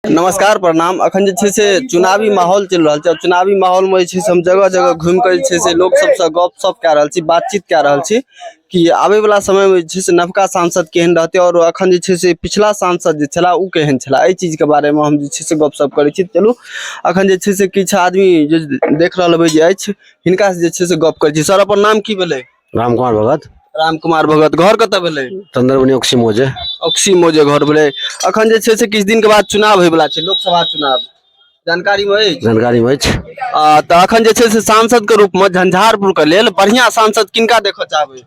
नमस्कार प्रणाम अखन जे छै से चुनावी माहौल चलि रहल छै और चुनावी माहौल में जे छै से हम जगह जगह घूमि कऽ जे छै से लोक सबसँ गपशप कए रहल छी बातचीत कए रहल छी कि आबे वाला समय में जे छै से नवका सांसद केहन रहतै और अखन जे छै से पिछला सांसद जे छला ओ केहन छला एहि चीज के बारे में हम जे छै से गपशप करै छी चलू अखन जे छै से किछु आदमी जे देख रहल हेबै जे अछि हिनका से जे छै से गप करै छी सर अपन नाम की भेलै राम कुमार भगत राम कुमार भगत घर कतऽ भेलै चंद्रमणि ओक्सी मोजे ऑक्सी मोजे घर भेलै अखन जे छै से किछु दिन के बाद चुनाव होय वाला छै लोकसभा चुनाव जानकारी मे अछि जानकारी में अछि आ, तऽ अखन जे छै से सांसद के रूप मे झंझारपुर के लेल बढ़िया सांसद किनका देखऽ चाहबै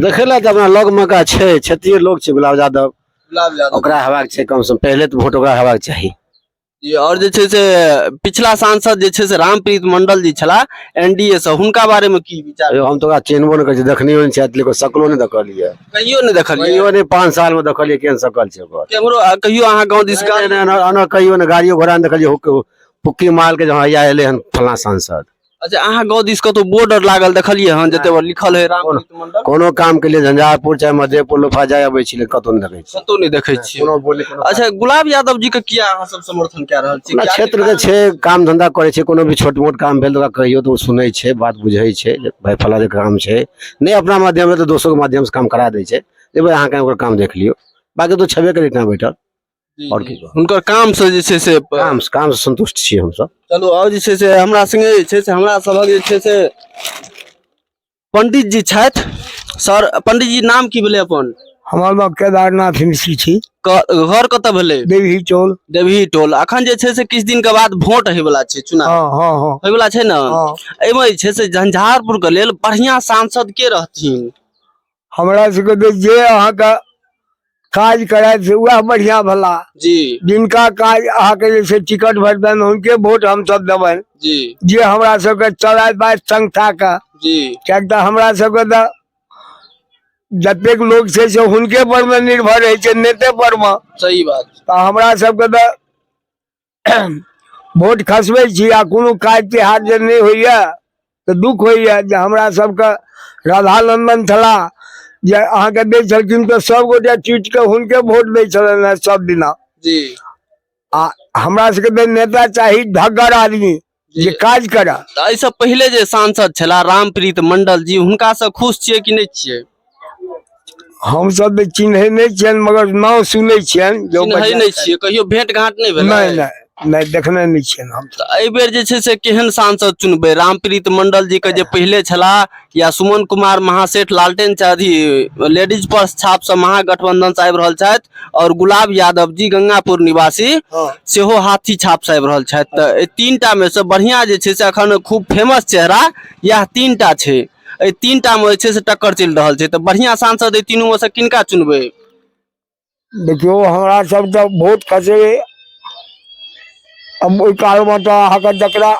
देखै लए तऽ अपना लग में का छै क्षेत्रीय लोक छै गुलाब यादव गुलाब यादव ओकरा हेबाक छै कम से कम पहिले तऽ वोट ओकरा हेबाक चाही जी आओर जे छै से पिछला सांसद जे छै से रामप्रीत मंडल जी छलाह एनडीए से हुनका बारे में की विचार यौ हम तो ओकरा चिन्हबो नहि करै छी देखनियो नहि छथि लेकिन सकलो नहि देखलियै कहियो नहि देखलियै कहियो नहि पाँच साल मे देखलियै केहन सकल छै ओकर केम्हरो आ कहियो अहाँ गाँव दिस नहि, नहि, एना- एना कहियो ने गाड़ियो घोड़ा नहि देखलियै हुक- फुक्की माल के जहाँ हैया एलै हन फलां सांसद अच्छा अहाँ गाँव दिस कतौ बोर्ड आर लागल देखलियै हन जते पर लिखल है राम प्रीत मंडल कोनो काम के लिए झंझारपुर चाहे मधेपुर लोफा जाय अबै छी लेकिन कतौ नहि देखै छी कतौ नहि देखै छियै कोनो बोली कोनो अच्छा गुलाब यादव जी के किया अहाँ सब समर्थन कए रहल छी अपना किया क्षेत्र के छै काम धंधा करै छै कोनो भी छोट मोट काम भेल तऽ ओकरा कहियो तऽ ओ सुनै छै बात बुझै छै जे भाय फला जे काम छै नहि अपना माध्यम से तऽ दोसरो के माध्यम से काम करा दै छै जे भाय अहाँ कहीं ओकर काम देख लियौ बाकी तो छेबे करै ठाम बैठल जी, आओर जी। की कहब? हुनकर काम से जे छै से काम काम से संतुष्ट छी हमसब चलू आओर जे छै से हमरा संगे जे छै से हमरा सभक जे छै से पंडित जी छथि सर पंडित जी नाम की भेलै अपन हमर नाम केदारनाथ मिश्री छी क- घर कतऽ भेलै देवी चौल देवी टोल अखन जे छै से किछु दिन के बाद वोट होय वाला छै चुनाव हाँ हाँ हाँ होय वाला छै ने हाँ एहिमे जे छै से झंझारपुर के लेल बढ़िया सांसद के रहथिन हमरा सबके तऽ जे अहाँके काज करायत से उएह बढ़िया भला जी जिनका काज अहाँके जे छै टिकट भेटतनि हुनके वोट हमसब देबनि जी जे हमरा सबके चलाय बाय संस्था के जी किएक तऽ हमरा सबके तऽ जतेक लोक छै से हुनके पर मे निर्भर रहै छै नेते पर मे सही बात तऽ हमरा सबके तऽ वोट खसबै छी आ कोनो काज तिहार जे नहि होइए तऽ दुख होइए जे हमरा सबके राधानंदन छला जे अहाँके दै छलखिन तऽ सभगोटे चुटि कऽ हुनके वोट दै छलनि हेँ सब दिना जी आ हमरा सबके तऽ नेता चाही ढग्गर आदमी जे काज करऽ तऽ एहिसँ पहिले जे सांसद छलाह रामप्रीत मंडल जी हुनकासँ खुश छियै कि नहि छियै हमसभ तऽ चिन्है नहि छियनि मगर नाम सुनै छियनि जे ओ चिन्है बढ़िआँ नहि छियै कहियो भेंट घाट नहि भेल नहि नहि नहि देखने नहि छियनि हम तऽ एहि बेर जे छै से केहन सांसद चुनबै रामप्रीत मंडल जी के जे पहिले छलाह या सुमन कुमार महासेठ लालटेन चौधरी लेडीज पर छाप से महागठबंधन से आबि रहल छथि और गुलाब यादव जी गंगापुर निवासी हाँ। सेहो हाथी छाप से आबि रहल छथि तऽ एहि तीन टा मे से बढ़िया जे छै से अखन खूब फेमस चेहरा यह तीन टा छै एहि तीन टा मे जे छै से टक्कर चलि रहल छै तऽ बढ़िया सांसद एहि तीनू मे से किनका चुनबै देखियौ हमरा सब तऽ वोट खसे हम ओहि कालमे तऽ अहाँके जकरा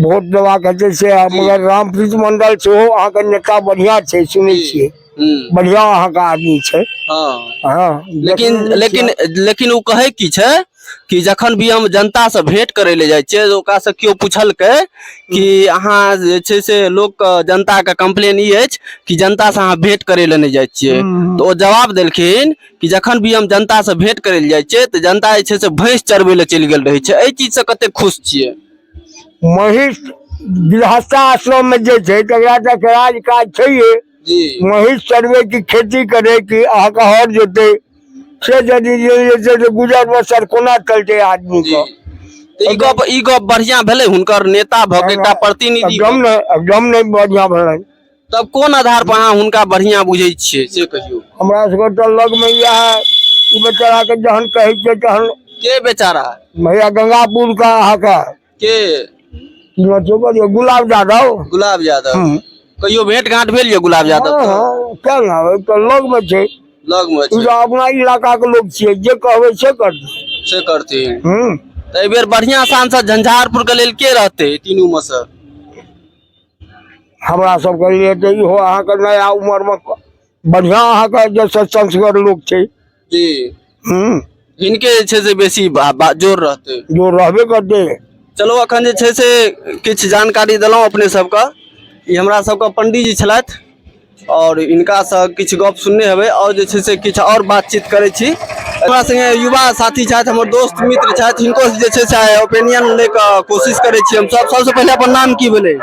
वोट देबाक हेतै से मगर रामप्रीत मंडल सेहो अहाँके नेता बढ़िया छै सुनै छियै हम्म, बढ़िया अहाँके आदमी छै हाँ। हँ लेकिन देखने लेकिन छियै। लेकिन ओ कहै की छै कि जखन भी हम जनतासँ भेँट करय लए जाइ छियै ओकरासँ केओ पुछलकै कि अहाँ जे छै से लोकके जनताके कम्प्लेन ई अछि कि जनतासँ अहाँ भेँट करय लए नहि जाइ छियै तऽ ओ जवाब देलखिन कि जखन भी हम जनतासँ भेँट करय लए जाइ छियै तऽ जनता जे छै से भैंस चरबै लए चलि गेल रहै छै एहि चीजसँ कतेक खुश छियै महिष गृहस्थाश्रममे जे छै तकरा तऽ राज काज छैहे जी महिष चरबैके खेती करैके अहाँके हर जोतै से यदि जे जे छै से गुजर बसर कोना चलतै आदमीके तऽ ई गप ई गप बढ़िया भेलै हुनकर नेता भऽ के एकटा प्रतिनिधि एकदम नहि एकदम नहि बढ़िआँ भेलै तब कोन आधार पर अहाँ हुनका बढ़िया बुझै छियै से कहियौ हमरा सबके तऽ लगमे इएह ई बेचाराके जहन कहै छै तहन के बेचारा भैया गंगापुरके अहाँके के हमरा जोबा जे गुलाब यादव गुलाब यादव हँ कहियो भेंट घाट भेल यऽ गुलाब यादव हँ, हँ, किया ने हँ, तऽ लगमे छै लग मे ई छै तऽ अपना इलाकाके लोक छियै जे कहबै से करतै से करथिन हूँ तऽ एहि बेर बढ़िया सांसद झंझारपुर के लेल के रहते तीनू में से हमरा सबके लिए तऽ इहो अहाँके नया उमरमे बढ़िया अहाँ के जे छै संस्गर लोक छै जी हम्म हिनके जे छै से बेसी बा- बा- जोर रहतै जो रहबे करते चलू अखन जे छै से किछु जानकारी देलहुँ अपने सबके ई हमरा सबके पंडीजी छलथि आओर हिनकासँ किछु गप सुनने हेबै आओर जे छै से किछु आओर बातचीत करै छी हमरा संगे युवा साथी छथि हमर दोस्त मित्र छथि हिनको जे छै से ओपिनियन लै के कोशिश करै छी हम सब सबसँ पहिले अपन नाम की भेलै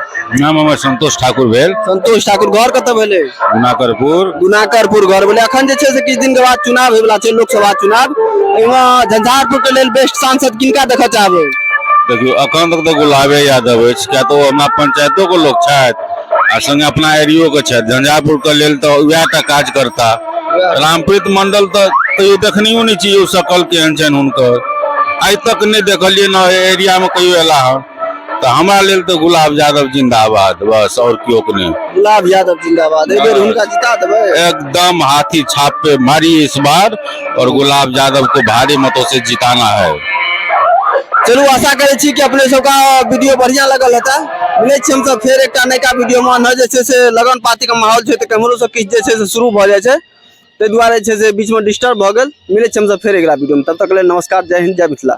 नाम हमर संतोष ठाकुर भेल संतोष ठाकुर घर कतऽ भेलै गुनाकरपुर गुनाकरपुर घर भेलै अखन जे छै से किछु दिन के बाद चुनाव होय वाला छै लोकसभा चुनाव एहिमे झंझारपुर के लेल बेस्ट सांसद किनका देखऽ चाहबै देखियौ अखन तक तऽ गुलाबे यादव अछि किया तऽ ओ हमरा पंचायतो के लोक छथि आ संगे अपना एरियो के छथि झंझारपुर के लेल तऽ उएह टा काज करता रामप्रीत मंडल तऽ कहियो देखनियो नहि छी सकल केहन छनि हुनकर आइ तक नहि देखलियै ने एरिया में कहियो एला हन तऽ हमरा लेल तऽ गुलाब यादव जिंदाबाद बस और केओ के नहीं गुलाब यादव जिंदाबाद एक बेर हुनका जिता देबै एकदम हाथी छाप पे मारी इस बार और गुलाब यादव को भारी मतों से जिताना है चलू आशा करै छी कि अपने सबका वीडियो बढ़िया लगल हेतै मिलै छी हमसभ फेर एकटा नयका वीडियोमे ने जे छै से लगन पातीके माहौल छै तऽ केम्हरो सब किछु जे छै से शुरू भऽ जाइ छै ताहि दुआरे छै से बीचमे डिस्टर्ब भऽ गेल मिलै छी हमसभ फेर अगिला वीडियोमे तब तक लेल नमस्कार जय हिन्द जय मिथिला